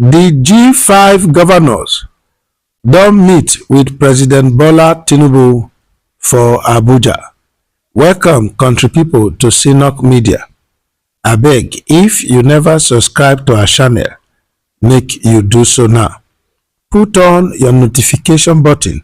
Di G5 governors don meet wit President Bola Tinubu for Abuja. Welcome country pipo to Synock Media. Abeg if you neva subscribe to our channel, make you do so now. Put on your notification button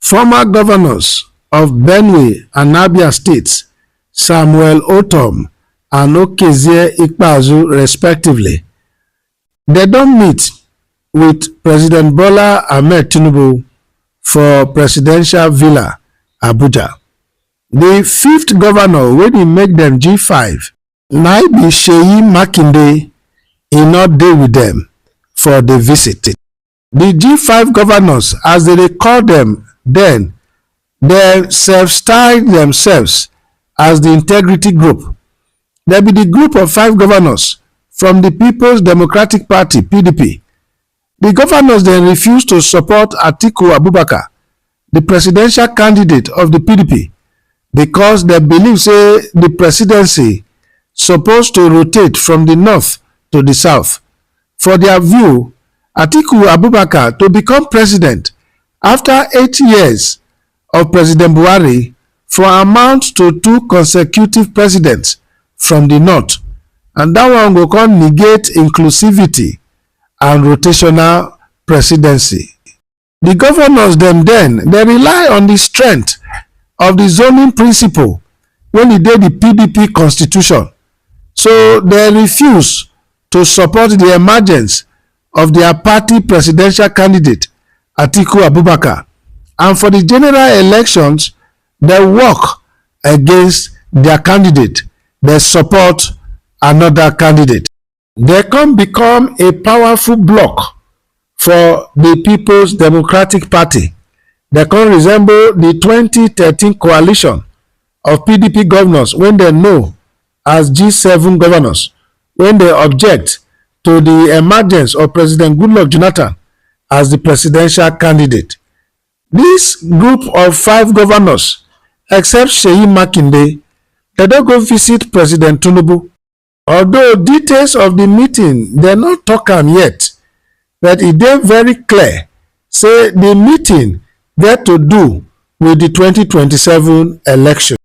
Former governors of Benue and Abia states, Samuel Otom and Okezie Ikpeazu respectively, they don't meet with President Bola Ahmed Tinubu for Presidential Villa, Abuja. The fifth governor wey dey make them G5 na be Seyi Makinde e no dey with them for the visit. di g5 govnors as dem dey call dem den dem self-style demsefs as di integrity group dem be di group of five govnors from di peoples democratic party pdp di govnors dem refuse to support atiku abubakar di presidential candidate of di pdp because dem believe say di presidency suppose to rotate from di north to di south. For dia view, Atiku Abubakar to become president afta eight years of President Buhari for amount to two consecutive presidents from di north and dat one go come negate inclusivity and rotational presidency. di governors dem den dey rely on di strength of di zoning principle wey e dey di pdp constitution so dem refuse to support di emergence of dia party presidential candidate atiku abubakar and for di general elections dem work against dia candidate dem support anoda candidate. Dem come become a powerful bloc for di Peoples Democratic Party, dem come resemble di twenty thirteen coalition of pdp govnors wey dem know as g seven govnors wey dey object to di emergence of president goodluck jonathan as di presidential candidate. Dis group of five govnors except seyi makinde dem don go visit president tinubu. Although details of di meeting dem no tok am yet, but e dey very clear say di meeting get to do wit di twenty twenty seven election.